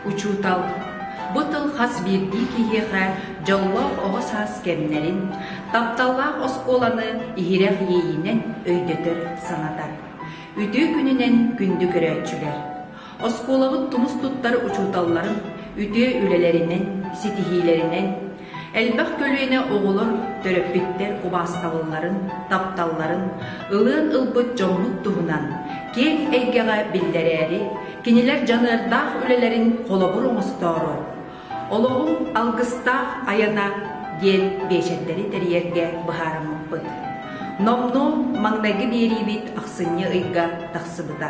Учуутал бу тыл хас биирдии киһиэхэ дьоллоох оҕо саас кэмнэрин, тапталлаах оскуоланы иһирэх иэйиинэн өйдөтөр, санатар. Үтүө күнүнэн күндү көрөөччүлэр! Оскуолабыт тумус туттар учууталларын үтүө үлэлэринэн, ситиһиилэринэн, элбэх көлүөнэ оҕолор төрөппүттэр убаастабылларын, тапталларын ылыан ылбыт дьоммут туһунан киэҥ эйгэҕэ биллэрээри, кинилэр дьаныардаах үлэлэрин холобур оҥостоору «Олоҕум алгыстаах айана» диэн биэчэрдэри тэрийэргэ быһаарыммыппыт. Номнуо маҥнайгы биэриибит ахсынньы ыйга тахсыбыта.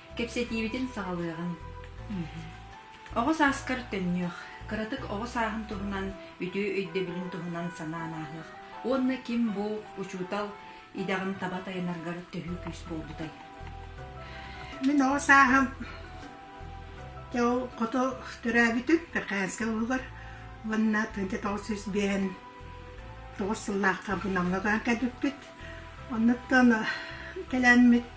Кэпсэтиибитин саҕалыаҕыҥ. Оҕо сааскар төннүөх, кыратык оҕо сааһын туһунан, үтүө өйдөбүлүн туһунан санаан ааһыах уонна ким бу учуутал идэҕин таба тайынаргар төһүү күүс буолбутай? Мин оҕо сааһым хоту төрөөбүтүм Перкаянскай улугар уонна 1999 сыллаахха Намга кэлбиппит. Оннуктан кэлэммит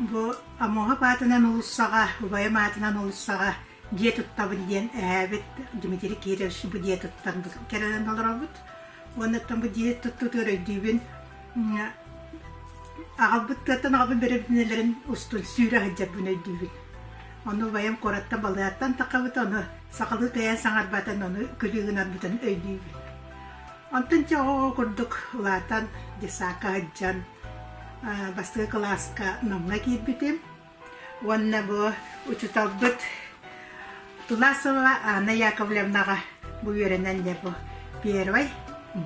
Бу Амоһоп аатынан олуссаҕа, убайым аатынан олуссаҕа дьиэ туттабын диэн эһээбит Дмитрий Кирович бу дьиэ туттан кэлэн олоробут. Уоннаттан бу дьиэ туттутугар өйдүүбүн аҕабыт тыаттан аҕабын бэрэбинэлэрин устун сүүрэ сылдьарбын өйдүүбүн. Ону убайым куораттан Балыгаттан таххабыт, ону сахалыы тайаан саҥарбатан, ону күлүү гынарбытын өйдүүбүн. Онтон дьэ ол курдук улаатан, детсакка сылдьан, бастакы кылааска Намҥа киирбитим уонна бу учууталбыт Тунасова Анна Яковлевнаҕа бу үөрэнэн дьэ бу первый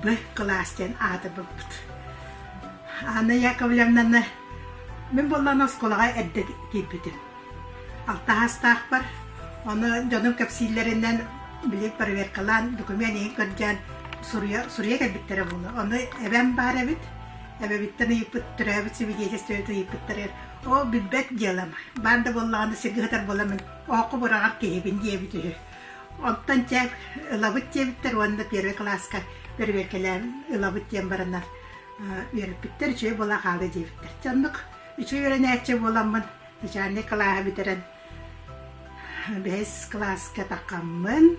Б кылаас диэн ааты булбут. Анна Яковлевнаны мин буоллан оскуолаҕа эрдэ киирбитим. Алтаһаастаахпар оны дьонум кэпсииллэринэн били проверкалаан документ иһин көрдөөн суруя суруя кэлбиттэрэ буолла. Ону эбэм баар эбит Эбэбиттэн ыйыппыт, төрөөбүт сибидиэтиссэбит ыйыппыттарыгар «Ол билбэт диэлэм, баан да буоллаҕына сиргэ сытар буоламмын, оһоххо быраҕар киһибин» диэбит үһү. Оттон чэ, ылабыт диэбиттэр уонна первый класска бэрэбиэркэлээн ылабыт диэн баранар үөрэппиттэр үчүгэй буола хаала диэбиттэр. Чэ оннук үчүгэй үөрэнээччи буоламмын начальник кылааһы бүтэрэн бэһис кылааска такаммын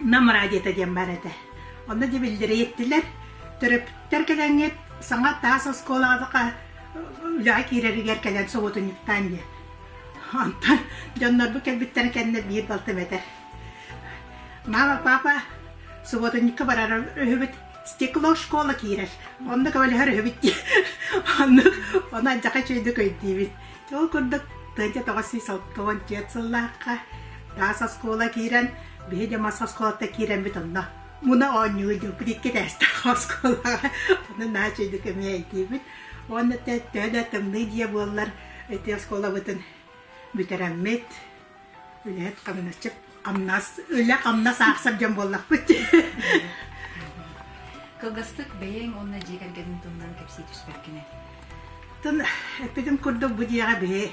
Нам радиото диэн баар этэ. Онно дьэ биллириэттилэр. Төрөппүттэр кэлэҥҥит саҥа таас оскуолаҕа үлэҕэ киирэригэр кэлэн соботунньуктаан диэн. Онтон дьоннорбут кэлбиттэрэ кэннэ биир балтым этэр. Мама, папа, субботунньукка барар үһүбүт стекло школа киирэр. Онно көбөлөһөр үһүбүт дии. Оннук, ону адьака үчүгэйдик өйдүүбүт. Ол курдук, тыа тоҕус уон сыллаахха таас оскуола киирэн, биһи да мас оскуолата киирэммит онно муна оонньуу диэбит икки тээстээх оскуолаҕа онон наачыйдык эмиэ эйдиибит уонна төһө да тымныы дьиэ буоллар ити оскуолабытын бүтэрэммит үлэһит хамначчыт хамнас үлэ хамнас аахсар дьон буоллахпыт кылгастык бэйэҥ уонна дьиэ кэргэниҥ туһунан кэпсии түспэт кини тын эппитим курдук бу дьиэҕэ биһи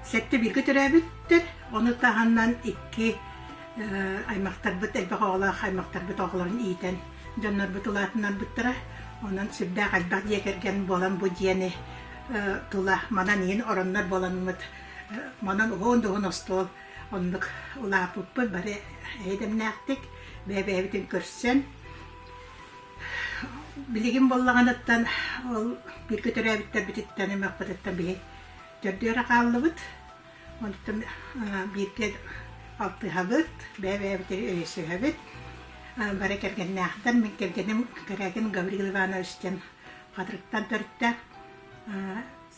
сэттэ бииргэ төрөөбүттэр ону таһынан икки аймахтарбыт элбэх оҕолоох аймахтарбыт оҕолорун иитэн дьоннорбут улаатыннарбыттара онон сүрдээх элбэх дьиэ кэргэн буолан бу дьиэни тыла манан иһин ороннор буоланыҥыт манан уһуун дуһун остуол оннук улаапыппыт бары эйдэмнээхтик бэйэ-бэйэбитин көрсөн билигин боллаҕаныттан ол биир көтөрөөбүттэрбититтэн ымыахпытыттан биһи төрдүөрэ хааллыбыт онтон бииргэ алтыһабыт бэйэ-бэйэбитин өйөсүһэбит бары кэргэннээхтэр мин кэргэним кэрэгин Гаврил Иванович диэн Хатырыктан төрүттэ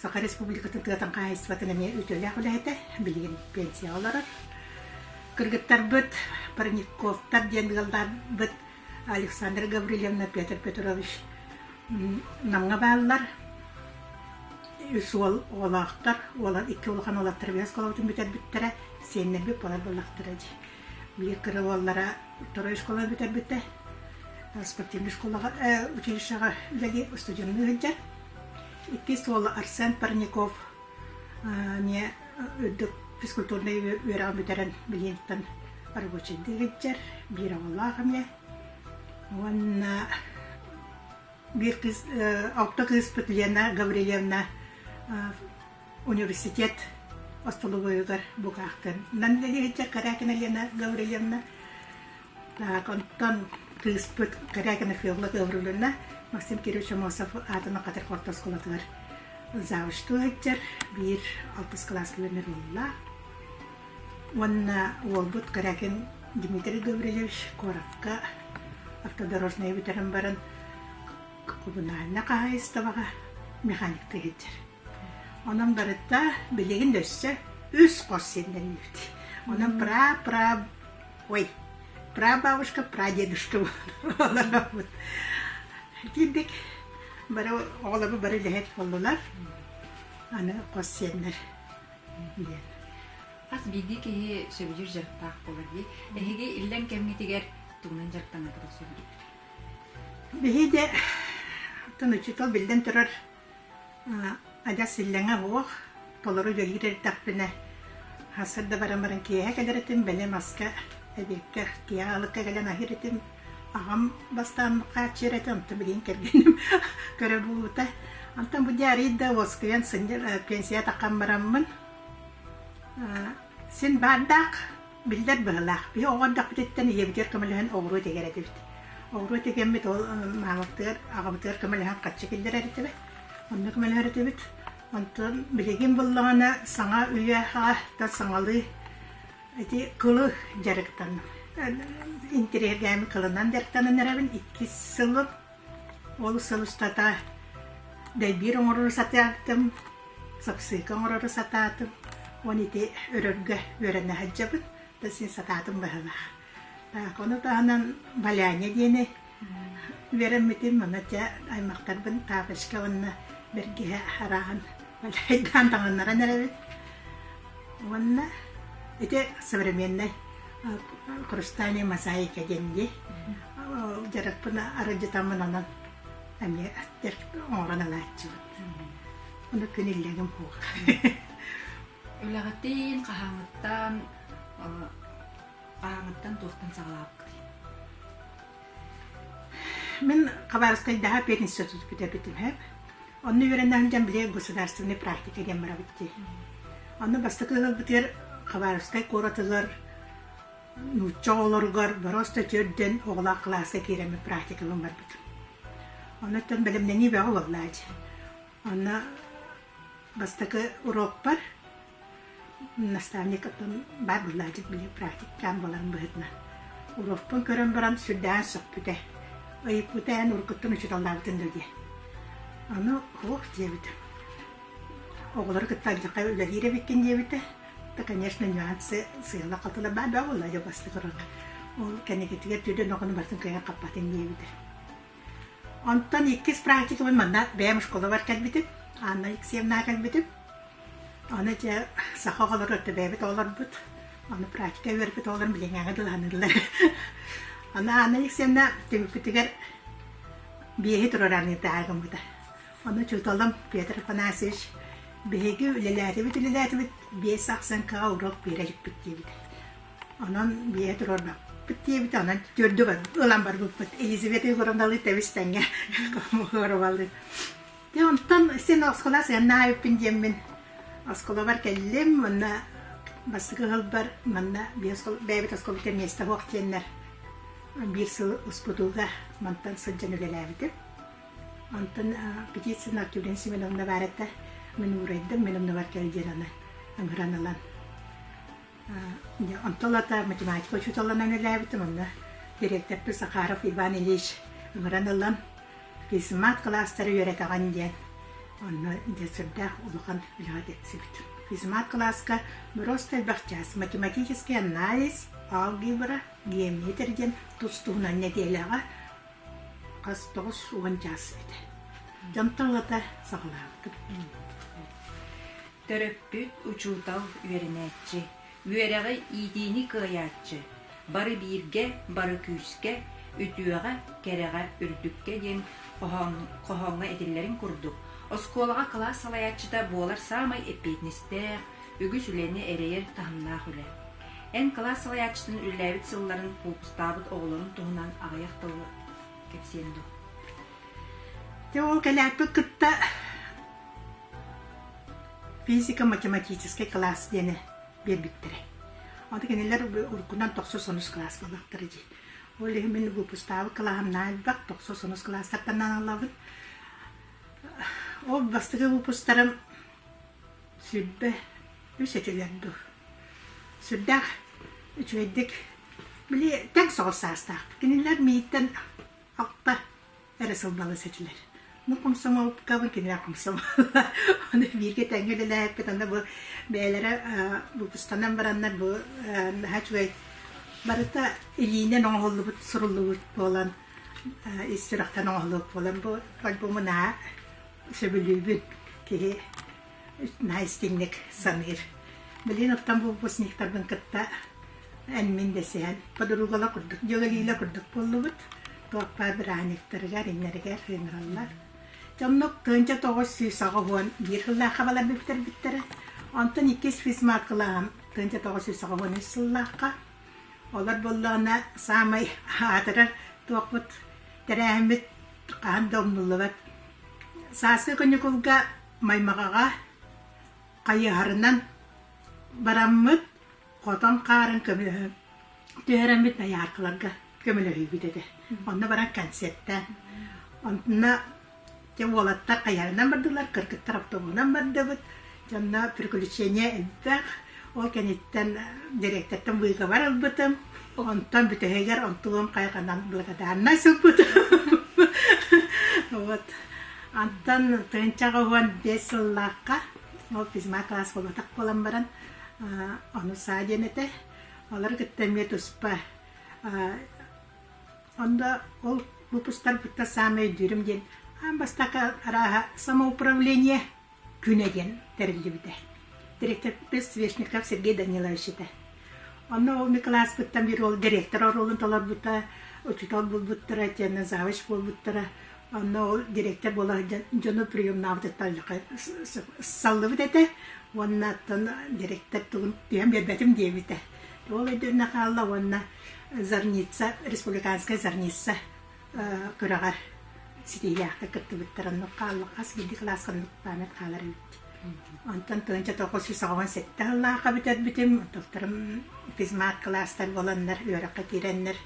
Саха Республикатын тыатын хаһаайыстыбатын эмиэ үтүөлээх үлэһитэ, билигин пенсияҕа олорор. Кыргыттарбыт Парниковтар диэн ыалларбыт Александра Гаврильевна Петр Петрович Намҥа бааллар. Үс уол оҕолоохтор, уолан икки улахан уолаттар осколобутун бүтэрбиттэрэ, сиэннэрбит буолар буоллахтара дии. Биирдэрэ уоллара второй оскуоланы бүтэрбитэ, спортивнай школаҕа, училищеҕа үлэлии устудьуоннуу сылдьар. Иккис уола Арсен Парников эмиэ үрдүк физкультурнай үөрэҕи бүтэрэн Билиҥҥиттэн рабочайдыы илдьэр, биир оҕолоох эмиэ. Уонна биир кыыс, алта кыыспыт Лена Гаврильевна университет остолобуйугар букаахтанан үлэлэһиттэр Карякина Лена Гаврильевна онтон кыыспыт Карякина Фёдла Гавриловна Максим Кириллович Мосов аатынан Хатыр орто оскуолатыгар завучтуу сылдьар биир алтыс кылаас күһүннэр буолла уонна уолбут Карякин Дмитрий Гаврильевич куоракка автодорожнай бүтэрэн баран коммунальнай хаһаайыстыбаҕа механикка иһитэр Онон барыта билигин өссө үс хос сиэннэннибит. Онон пра-пра ой прабабушка, прадедушка олоробут. Итинник бары оҕолорбут бары үлэһит буоллулар. Аны хос сиэннэр диэн. Хас биирдии киһи сөбүлүүр дьарыктаах буолар дии. Эһиги иллэҥ кэмҥитигэр тугунан дьарыктаныахпытын сөбүлүүр? Биһиги атын учуутал биллэн турар Адьас иллэҥэ буох, толору үлэлиир эрдэхпинэ, сыр да баран баран киэһэ кэлэр этим, бэлэм аска, эбиэккэ, киэһэ алыкка кэлэн аһыыр этим. Аҕам бастаан хааччыйар этэ, онтон билигин кэргэним көрө буолбута. Онтон бу диарыйда да уоскуйан сынньа, пенсия таххан бараммын, син баардаах Биллэр быһылаах. Биһи оҕо эрдэхпититтэн ийэбитигэр көмөлөһөн оҕуруо тигэр этибит. Оҕуруо тигэммит ол маамабытыгар, аҕабытыгар көмөлөһөн хаччы киллэрэр этибит. Онно көмөлөһөр этибит. Онтон билигин буллаҕына саҥа үйэҕэ да саҥалыы ити кылы дьарыктанным. Интириэргээми кылынан дьарыктанан эрэбин иккис сылын Ол сыл устата дэлбиир оҥорору сатаатым, сапсыыка оҥорору сатаатым. Уон ити өрөргө үөрэнэ сылдьабыт да син сатаатым быһыылаах. Так, ону таһынан Валяня диэни үөрэммитим. Ону дьэ аймактарбын тапочка уонна бэргэһэ арааһын валяйдаан таҥыннаран эрэбит. Уонна ити современнай Хрустальный мозаика диэн дии. Дьарыкпын арыдьытаммынан эмиэ аттер оҥорон анааччыбыт. Ону күн иллэҥим хуох. Үлэҕитин, хаһааҥыттан хаһааҥыттан туохтан саҕалаабыккытый? Мин Хабаровскайдааҕы пианисты тутук бүтэрбит үһү. Онно үөрэнэ сылдьан били государственный практика диэн барабыт дии. Онно бастакы ыларбытыгар Хабаровскай куоратыгар нуучча оҕолоругар бороста төрдөн оҕолоох кылааска киирэммит практикабын барбытым. Онно оттон бэлэмнэнии бөҕө буоллаа дии. Онно бастакы уруокпар наставникпын баар быһылаадьыт били практикаан буоларын быһытынан уруокпун көрөн баран сүрдээн сөхпүтэ ыйыппыта эн уруккуттан учууталлаабытын дуо диэн аны ох диэбитэ оҕолору кытта алдьархай үлэлиир эбиккин диэбитэ да конечно нюансы сыала хатыла баар баа буолла дьэ бастакы уруок ол кэнникитигэр түөрт онохону барытын кыайан хаппатын диэбитэ Онтон иккис практикабын манна бэйэм оскуолабар кэлбитим, Анна Алексеевнаҕа кэлбитим. Аны дьэ саха оҕолоро өртө бэйэбит оҕолорбут, аны практика үөрбүт оҕолорум билиҥҥэҕэ дылаһаныыллар. Аны Анна Алексеевна түмүкпүтүгэр биэһи туруораныытааҕы гыммыта. Ону учууталым Петр Афанасьевич биһиги үлэлээтибит-үлэлээтибит, биэс ахсын каҕа уруок биэрэ иликпит диэбитэ. Онон бие туруорбаппыт диэбит, онон төрдүгүн ылан барбыппыт. Елизавета Егоровна Лытович тэҥҥэ хомуһуоруваллыыр. Дэ онтон син оскола сыаннаабыппын диэммин осколабар кэллим уонна бастакы ыһылбар манна бэйэбит осколбыттан миэстэ суох диэннэр биир сыл успутууга мантан сылдьан үлэлээбитим. Онтон Птицына Артюрин Семеновна баарата мин уурайдым, мин оннугар кэл диэн аны ыҥыран ылан Онтон ата математика учууталынан үлэлээбитим, онно дириэктэппит Сахаров Иван Ильич ыҥыран ылан кыысымаат кылаастары үөрэтэҕин диэн онно сүрдээх улахан үлэҕэ тиксибитим. Физмат кылааска просто элбэх чаас математический анализ, алгебра, геометр диэн тус туһунан нэдиэлэҕэ хас тоҕус уон чаас этэ. Дьонтон ылата саҕалаабытым. Төрөппүт, учуутал, үөрэнээччи, үөрэҕи иитиини кыайааччы, бары бииргэ, бары күүскэ, үтүөҕэ, кэрэҕэ, үрдүккэ диэн хоһооҥҥо этиллэрин курдук, оскуолаҕа кылаас салайааччыта буолар саамай эппиэтинэстээх, үгүс үлэни эрэйэр таһымнаах үлэ. Эн кылаас салайааччытын үлэлээбит сылларын куукустаабыт оҕолорун туһунан аҕыйах тылы кэпсиэн дуо? Дьэ ол кэлээппит кытта Физико-математическай кылаас диэни биэрбиттэрэ. Ону кинилэр уруккунан тохсус сонус кылаас буолбаттара дии. Ол иһин мин выпустаабыт кылааһым наайбах тохсус сонус кылаастартан аналлабыт. Ол бастакы выпустарым сүрбэ үс өтүлэр дуу. Сүрдээх үчүгэйдик били тэҥ соҕус саастаах. Кинилэр миигиттэн алта эрэ сылбалас этилэр. Ну, комсомолкабын кинилэр комсомоллар. Оны бииргэ тэҥҥэ үлэлээһиппит анда бу бэйэлэрэ бултустанан бараннар бу наһаа үчүгэй барыта илиинэн оҥоһуллубут суруллубут буолан ис сүрэхтэн оҥоһуллубут буолан бу альбому наһаа сөбүлүүбүн киһи наһаа истиҥник саныыр. Билин оттон булбусниктарбын кытта эн-мин дэсиһэн подругала курдук, дьөгалиила курдук буоллубут. Туоппа бырааһынньыктарыгар, иннэригэр ыҥыраллар. Дьоннук тыынча тоҕус сүүс аҕа уон биир сыллаахха балар бүтэрбиттэрэ. Онтон иккис физматкалааһым тыынча тоҕус сүүс аҕа уон үс сыллаахха. Олор буллаҕына саамай аатырар туохпут тэрээһиммит хаһан да умнуллубат. Сааскы күннүкулга Маймаҕаҕа хайыһарынан бараммыт, хотон хаарын көмөлөһө түһэрэммит дояркаларга көмөлөһүүбүт этэ. Онно баран концерттээн. Онно дьэ уолаттар хайыһарынан бардылар, кыргыттар автобуһунан бардыбыт. Дьонно приключения элбэх. Ол кэнниттэн директортан быыгабар ылбытым. Онтон бүтэһигэр онтулуом хайҕанан благодарнай сылпыт. Вот. Антон тыынчаҕа уһуон биэс сыллаахха ол физма класс болатах буолан баран ону саа диэн этэ. Олар кытта эмиэ туспа. Онда ол выпустар бутта самый дюрим диэн аан бастакы арааһа самоуправление Күнэ диэн тэриллибитэ. Директорбыт Свешников Сергей Данилович этэ. Онно ол Ньукулааспыттан биир уол директор оруолун толорбута, учуутал булбуттара, теннэ завуч буолбуттара. Онно ол директор буола дьону приемнаабытыттан саллыбыт этэ уонна оттон директор тугун түһэн биэрбэтим диэбитэ. Ол өйдөннө хаалла уонна Зорница, республиканская зорница Кыраҕар ситиилээхтик кыттыбыттар, оннук хаалла. Хас биирдии кылааска оннук память хаалар эбит. Онтон тыһыынча тоҕус жүз саҕаҕын сэттэ сыллаахха бүтэрбитим. Тохторум физмат кылаастар буоланнар, үөрэххэ киирэннэр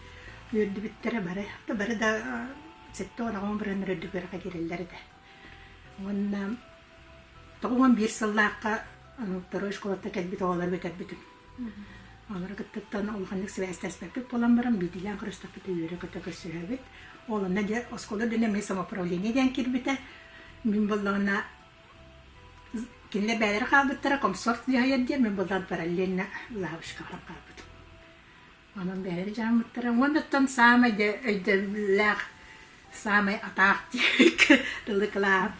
үөрдүбүттэрэ бары. Бары да сэттэ уон аҕам бырыннар үрдүк үөрэххэ киирэллэр этэ. Уонна тоҕус биир сыллаахха второй школаттан кэлбит оҕолорго кэлбитим. Олору кыттыттан улаханнык сибээстэспэппит буолан баран биитилээн көрүспүппүт үөрэ-көтө көрсүһэбит. Ол онно оскуола динамия самоуправление диэн кирбитэ. Мин боллоҕуна кинилэр бэйэлэрэ хаалбыттара комсорт дьаһайар диэн мин боллоҕун параллельно лавочкаҕа хаалбытым. Онон бэйэбит дьааммыттара уонуттан саамай дьэ өйдөбүллээх, саамай атаах тылы кылаан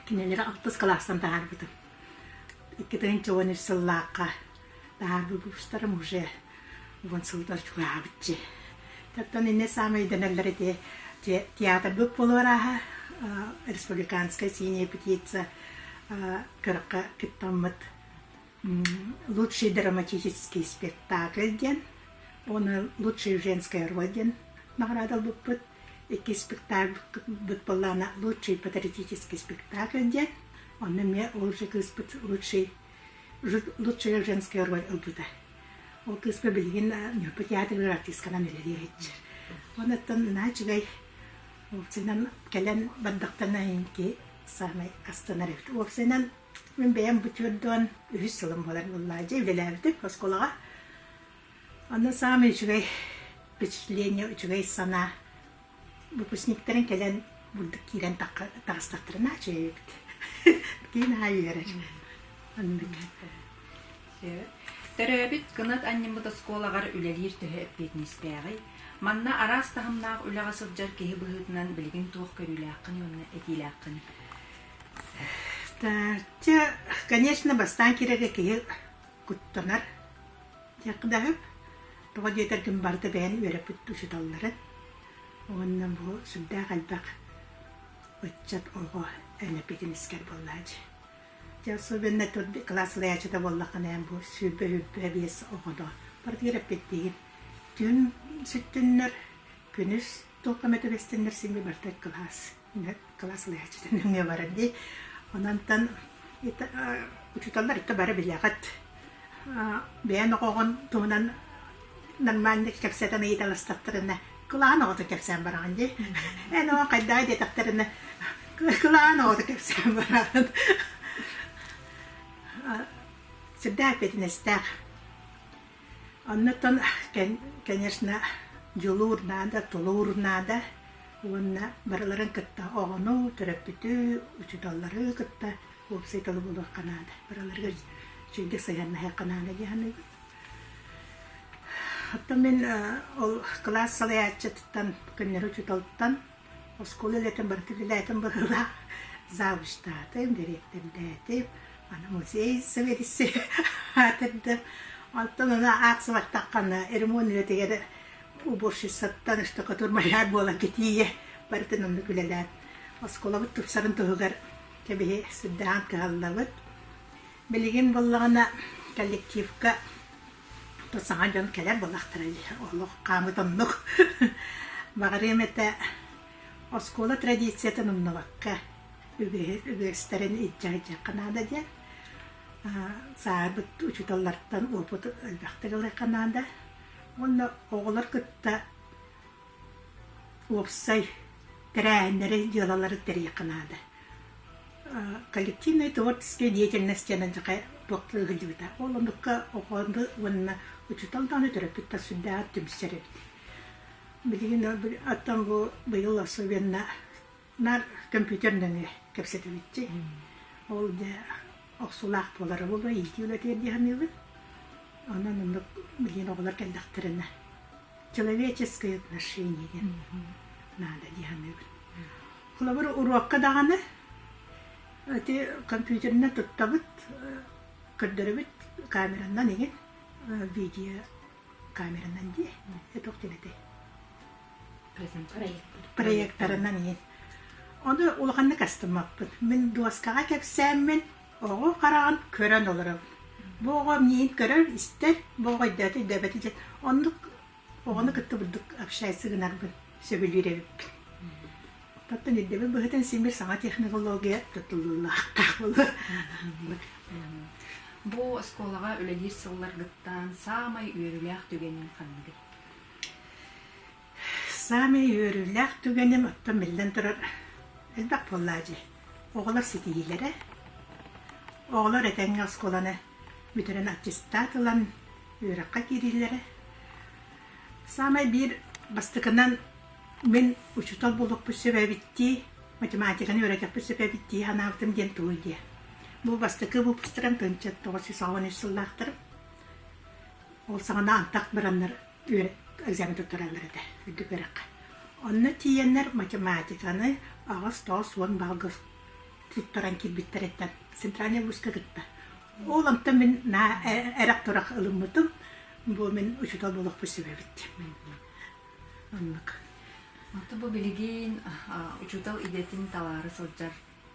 кинилэри алтыс кылаастан таһаарбытым. Икки тыһынча уон үс сыллаахха таһаарбыт бустарым уже уон сылыгар чугаабыччы. Таттан инне саамай идэнэллэр ити театрбыт буолуор ааха республиканская синяя петиция көрөххө кыттаммыт лучший драматический спектакль диэн уонна лучший женское роль диэн наҕараадалбыппыт икки спектакльбыт былаана лучший патриотический спектакль диэн онно эмиэ ол же кыыспыт лучший лучшая женская роль ылбыта ол кыыспа билигин ньурба театрыгар артыысканан үлэлиэхчир онуттан наачыгай Вовсинан кэлэн бардахтана инки саамай астынар эбит Вовсинан Мин бэйэм бутуордуон үһүс сылым буолар буоллаа. Дьэ үлэлээбитим оскуолаҕа. Онно саамай үчүгэй впечатление, үчүгэй санаа выпускниктарын кэлэн бурдук киирэн таҕыстахтарына чээбит. Киин аайы үөрэр. Оннук. Төрөөбүт кынат анньыммыт оскуолаҕар үлэлиир төһө эппиэтинэстээҕий? Манна араас таһымнаах үлэҕэ сылдьар киһи быһыытынан билигин туох көрүүлээххиний уонна этиилээххиний? Дьэ, конечно, бастаан киирэргэ киһи куттанар. Диэххэ да аһы. Тоҕо диэтэргин барыта бэйэни үөрэппит учууталларын. Уонна бу сүрдээх элбэх ыччат оҕо элэпитин искэр буоллаа дии. Дьэ, особенно тут класслаячыта буоллаххына эн бу сүүрбэ-бүппэ биэс оҕоно партиэрэппиттиин түн сүттүннэр күнүс толком это вестиннер сими бартак класс кылаас ылыһаччытын нөҥүө барар дии. Ононтон учууталлар итэ бары билэҕит. Бэйэн оҕоҕун туһунан нормальнык кэпсэтэн ыйыталастаттарына, кылаан оҕото кэпсээн бараҕын дии. Эн оҕо хайдаа диэтэхтэринэ, кылаан оҕото кэпсээн бараҕын. Сирдээх эппэтинэстээх Оннуттан, конечно, дьулуур наада, тулуур наада уонна барыларын кытта оҕону, төрөппүтү, учууталлары кытта уопсайдала буолуохха наада. Барыларыгар чиҥкэ сыһыаннаһыахха наада дии саныыбын. Оттон мин ол кылаас салайааччытыттан, көннөрү учууталтан Оскуола үлэтин бары киһилээтим быһыылаах завучтаатым, дириэктэрдээтим, аны музей сэбиэдиссэйэ аатырдым. Онтон аны аахсыбаттаххына ремонт үлэтигэр уборщицаттан işte катурмаляр буолан кэтииye барытын оннук үлэлээн оскуолабыт тупсарын туһугар кэбиһи сырдаан кыһаллабыт. Билигин буоллаҕына коллективка Тут саҥа дьон кэлэр буоллахтара дии. Олох хаамыт оннук. Баҕарыам этэ оскуола традициятын умнубакка үгэһи- үгэстэрин илдьэ сылдьыахха наада диэн. Аа, сааһырбыт учууталлартан уопут элбэхтик ылыахха наада. Уонна оҕолор кытта уопсай тэрээһиннэри, дьыалалары тэрийиэххэ наада. коллективнай творческай деятельность диэн дьахай туохтуу сылдьыбыта. Ол оннукка охоонду уонна учуутал даҕаны төрөппүттэр сүрдээҕэр түмсэр эбит. Билигин оттон бу быйыл особенно Наар көмпүүтэр нөҥүө кэпсэтибитчи. Ол дьэ охсуулаах буолара буолуо, иитии үлэтигэр дии саныыбын. Онон оннук билигин оҕолор кэллэхтэринэ человеческое отношение диэн наада дии саныыбын. Холобур, уруокка даҕаны ити компьютерынан туттабыт, көрдөрөбүт камеранан игин, видео камеранан дии, это ух проектарынан иһин ону улаханнык астыммаппын мин дуоскаҕа кэпсээммин оҕо хараҕын көрөн олоробун бу оҕо миигин көрөр истэр бу оҕо өйдөөтө өйдөөбөтө диэн оннук оҕону кытта бурдук общайся гынарбын сөбүлүүр эбиппин оттон ирдэбил быһыытын симир саҥа технология тутуллуулаахтаах буолуо бу оскуолаҕа үлэлиир сылларгыттан саамай үөрүүлээх түгэнин ханныгый Саамай үөрүүлээх түгэним, оттон биллэн турар, элбэх буоллаа дии, оҕолор ситиһиилэрэ. Оҕолор этэҥҥэ оскуоланы бүтэрэн аттестат ылан үөрэххэ киириилэрэ. Саамай биир бастакынан мин учуутал буолуохпут сөп эбиттии, математиканы үөрэтэхпит сөп эбиттии санаабытым диэн тугуй диэ. Бу бастакы выпустарым тынчыт тоҕус сүүс аҕыс сыллаахтарым. Ол саҕана антах бараннар экзамен туттараллар этэ, үрдүк үөрэххэ. Онно тиийэннэр математиканы аҕыс-тоҕус уон балга туттаран киирбиттэриттэн центральнай вузка кытта. Ол онтон мин эрэх-турах ылыммытым. Бу мин учуутал буолуохпун сөбөбүт. Оннук. Онтон бу билигин учуутал идэтин талаары сылдьар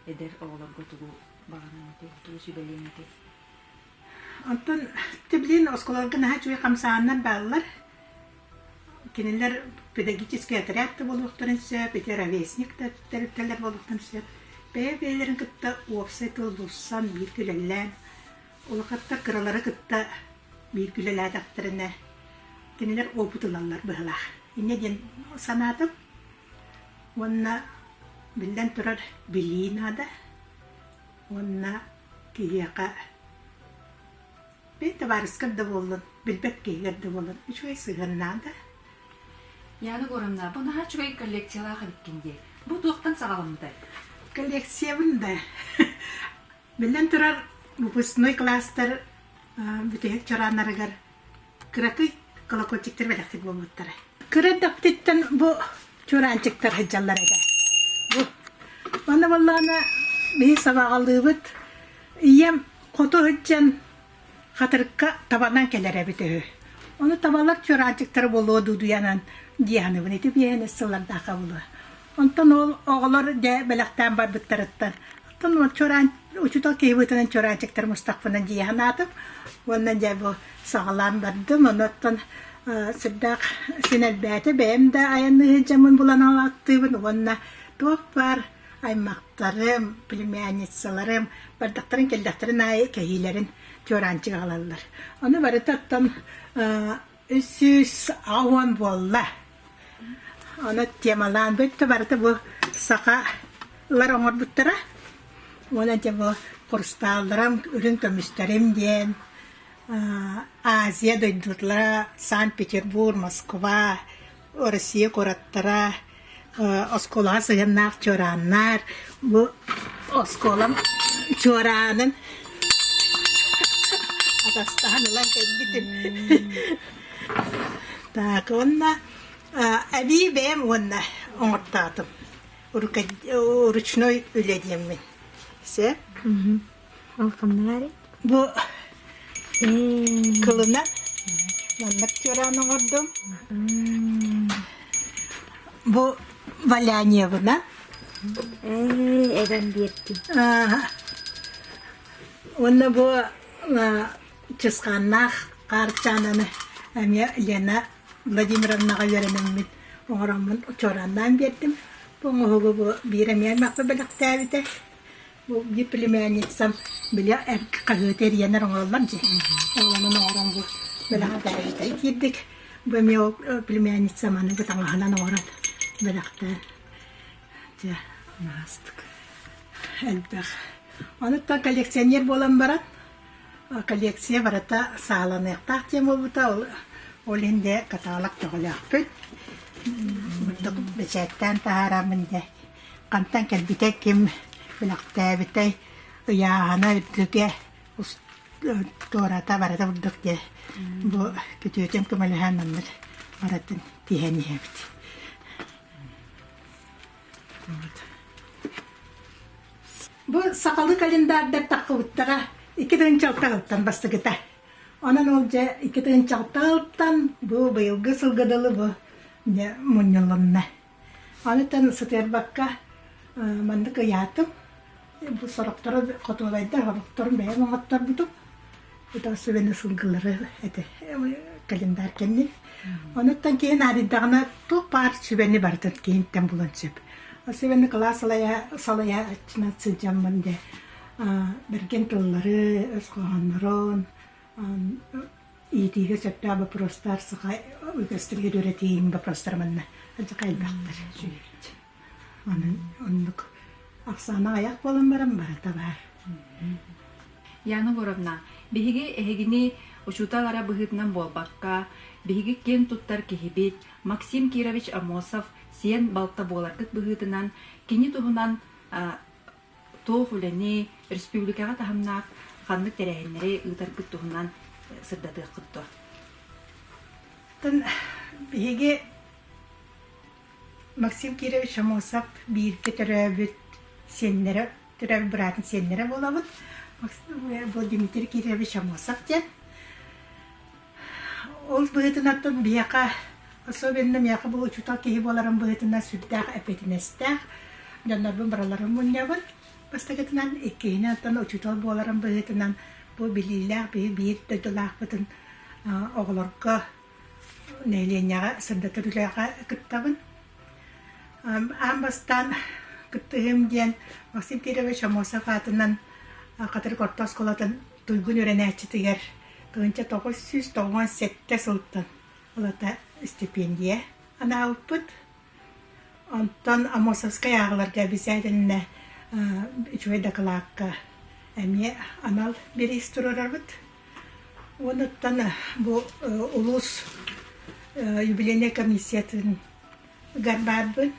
эдэр оҕолорго тугу баҕанан этэй, тугу сүбэлиэн этэй? Оттон ты блин оскуолаларга наһаа үчүгэй хамсааннар бааллар. Кинилэр педагогический отряд да буолуохтарын сөп, ити ровесник да тэрилтэлэр буолуохтарын сөп. Бэйэ-бэйэлэрин кытта уопсай тыл булсан, биир күлэллээн, улахаттар кыралары кытта биир күлэлээтэхтэринэ, кинилэр опыт ылаллар быһылаах. Инньэ диэн санаатым. Уонна, биллэн турар, билии наада. уонна киһиэхэ бэйи табаарыскар да буоллун билбэт киһигэр да буоллун үчүгэй сыһыаннаан да Яна Егоровна, бу наһаа үчүгэй коллекциялаах эбиккин дии. Бу туохтан саҕаламмытай? Коллекциябын да. Биллэн турар, выпускной кластар бүтүһүк чорааннарыгар кыракый колокольчиктар бэлэхтик буолбуттара. Кыра эрдэхпититтэн бу чуораанчыктар сылдьаллар этэ. Бу Манна боллаана биһи сабаҕалыыбыт. Ийэм хоту сылдьан хатырыкка табанан кэлэр эбит үһү. Ону табалар чуораанчыктары болуо дуудуйанан диэханыбын ити биэһэнэ сыллардаахха булуо. Онтон ол оҕолор дьэ бэлэхтээн барбыттарыттан. Оттон ол чораан, учутал киһи быытынан чораанчыктары мустахпынан дии санаатым. Уонна дьэ бу саҕалаан бардым. Онуттан сырдаах син элбээтэ. Бэйэм да айанныы сылдьаммын булан ааттыыбын уонна туох баар аймахтарым, племянницаларым бардахтарын кэллэхтэрин аайы кэһиилэрин чораанчыга ылаллар. Ону барыта оттон үс сүүс уон буолла. Ону темалаан бүттө барыта бу сахалар оҥорбуттара. Уонна дьэ бу курстаалларым үрүн көмүстэрим диэн Азия дойдулара Санкт-Петербург, Москва, Россия куораттара оскуолаҕа сыһыаннаах чуорааннар бу оскуолам чуораанын атастаһан ылан кэлбитим так уонна эбии бэйэм уонна оҥортоотум ручной үлэ диэммин сөп Алханнаари бу кылына маннык тюран оҥордум. Бу валяньевна. Эбэм биэрди. Уонна бу чысханнаах хаарчаананы эмиэ Лена Владимировнаҕа үөрэнэммин оҥороммун учуораннаан биэрдим. Бу оҥоһугу бу биир эмиэ маппа бэлэхтээбитэ. Ол диплемянницам били хаһыаты эрийэн оҥороллор дии. Оҕолонон оҥорон бу бэлэҕи бэрэһитэри киирдик. Бу эмиэ ол племянница маны бу таҥаһынан оҥорон бэлэхтээн дьэ наастык элбэх. Онуттан коллекционер буолан баран коллекция барыта сааланыахтаах диэн буолбута ол ол инде каталог көҕүлэөхпүт. Бачааттаан таһаараммын дэ хантан кэлбитэй, ким бэлэхтээбитэй, ыйааһына үрдүгэ, туората барыта бурдук диэ бу күтүөтүм көмөлөһөн маннык барытын тиһэн иһэбит. Бу сахалы календардар тахпыбыттара икки тыгын чалтаҕыттан бастыгыта. Онон ол дьэ икки тыгын чалтаҕыттан бу быйылгы сылга дылы бу мунньулунна. Аныттан сытыарбакка маннык ыйаатым. Бу сорохтору хотуолайдар, олохторун бэйэм оҥотторбутум. Итого сувенир сылгылары эти календарь кэннин. Онуттан киһи наадыйдаҕына туох баар сүбэни барытын киһинтэн булан сөп. Сүбэни кылаас салайа салайа сылдьаммын дэ бэргэн тылларын, өс хоһооннорун, Иитиигэ сөптөөх боппуруостар саха үгэстэригэр үөрэтиин боппуруостара манна алдьархай элбэхтэр сүһүрдь. Онон оннук ахсаана аҕыйах буолан баран барата баар. Яна Муравна, биһиги эһигини учуутал-ара быһыытынан буолбакка, биһиги киэн туттар киһибит Максим Кирович Амосов сиэн балта буоларгыт быһыытынан, кини туһунан туох үлэни, республикаҕа таһымнаах ханнык тэрээһиннэри ыытаргыт туһунан сырдатыаххыт дуо? Биһиги Максим Кирович Амосов бииргэ төрөөбүт сиэннэрэ, төрөөбүт быраатын сиэннэрэ буолабыт. Э, был Дмитрий Кирович Амосов диэн. Ол быһыытынаттан биһиэхэ, особенно миэхэ бу учуутал киһи буоларым быһыытынан сүрдээх эппиэтинэстээх. Дьоннорбун бараларын мунньабын. Бастакытынан, иккиһинэн учуутал буоларым быһыытынан бу билиилээх биһи биир дойдулаахпытын оҕолорго нэһилиэнньэҕэ сырдатар үлэҕэ кыттабын. Аан бастаан кыттыһыым диэн Максим Кирович Амосов аатынан Хатырык орто оскуолатын туйгун үөрэнээччитигэр Тыынча тоҕус сүүс тоҕуон сэттэ сылтан ылата истипиэндийэ анаабыппыт. Онтон Амосовскай ааҕыларга бисээтиннэ үчүгэй дакылаакка эмиэ анал бириис туруорарбыт. Уонуттан бу улуус юбилейнай комиссиятын Гарбаарбыт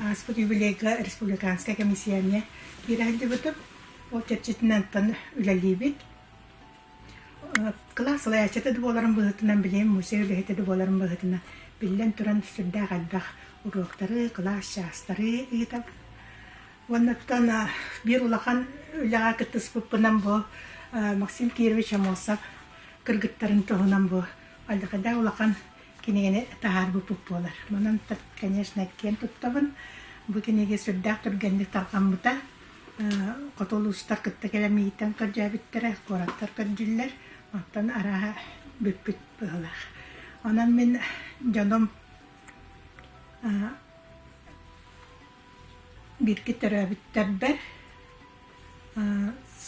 ааспыт юбилейга республиканскай кэмисиэнньэ киирээйдибитим, ол чэрчитинэнтэн үлэлиибит. Кылаас салайааччыта да буоларым быһыытынан, билигин мусуой үлэһитэ да буоларым быһыытынан, биллэн туран, сүрдээх элбэх уруоктары, кылаас чаастары ыытабын. Уоннаттан биир улахан үлэҕэ кыттыспыппынан бу Максим Кирович Амосов кыргыттарын туһунан бу алдьархайдаах улахан кинигэни таһаарбыппыт буолар. Манан так, конечно, киэн туттабын. Бу кинигэ сүрдээх түргэнник тарҕаммыта. Хоту улуустар кытта кэлэмииттэн көрдөөбүттэрэ, куораттар көрдүллэр. Оттон арааһа бүппүт быһылаах. Онон мин дьонум бирки төрөөбүттэрбэр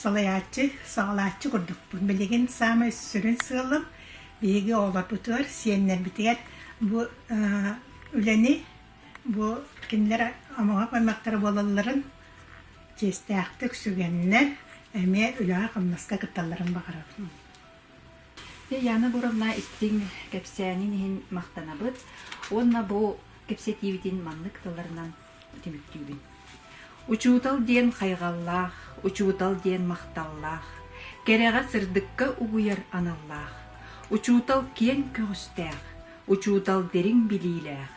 Салайааччы, саҕалааччы курдукпун. Билигин саамай сүрүн сыалым биһиги оҕолорбутугар, сиэннэрбитигэр бу үлэни, бу кинилэр омоҕо гыннахтара буолалларын чиэстээхтик сүгэннэр, эмиэ үлэҕэ-хамнаска кытталларын баҕарабын. Яна Боровна истиҥ кэпсээнин иһин махтанабыт уонна бу кэпсэтиибитин маннык тылларынан түмүктүүбүн. Учуутал диэн хайҕаллаах, учуутал диэн махталлаах, кэрэҕэ сырдыкка угуйар аналлаах, учуутал киэҥ көҕүстээх, учуутал дириҥ билиилээх,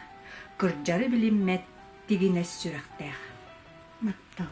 кырдьары билиммэт тигинэс сүрэхтээх. Махтал.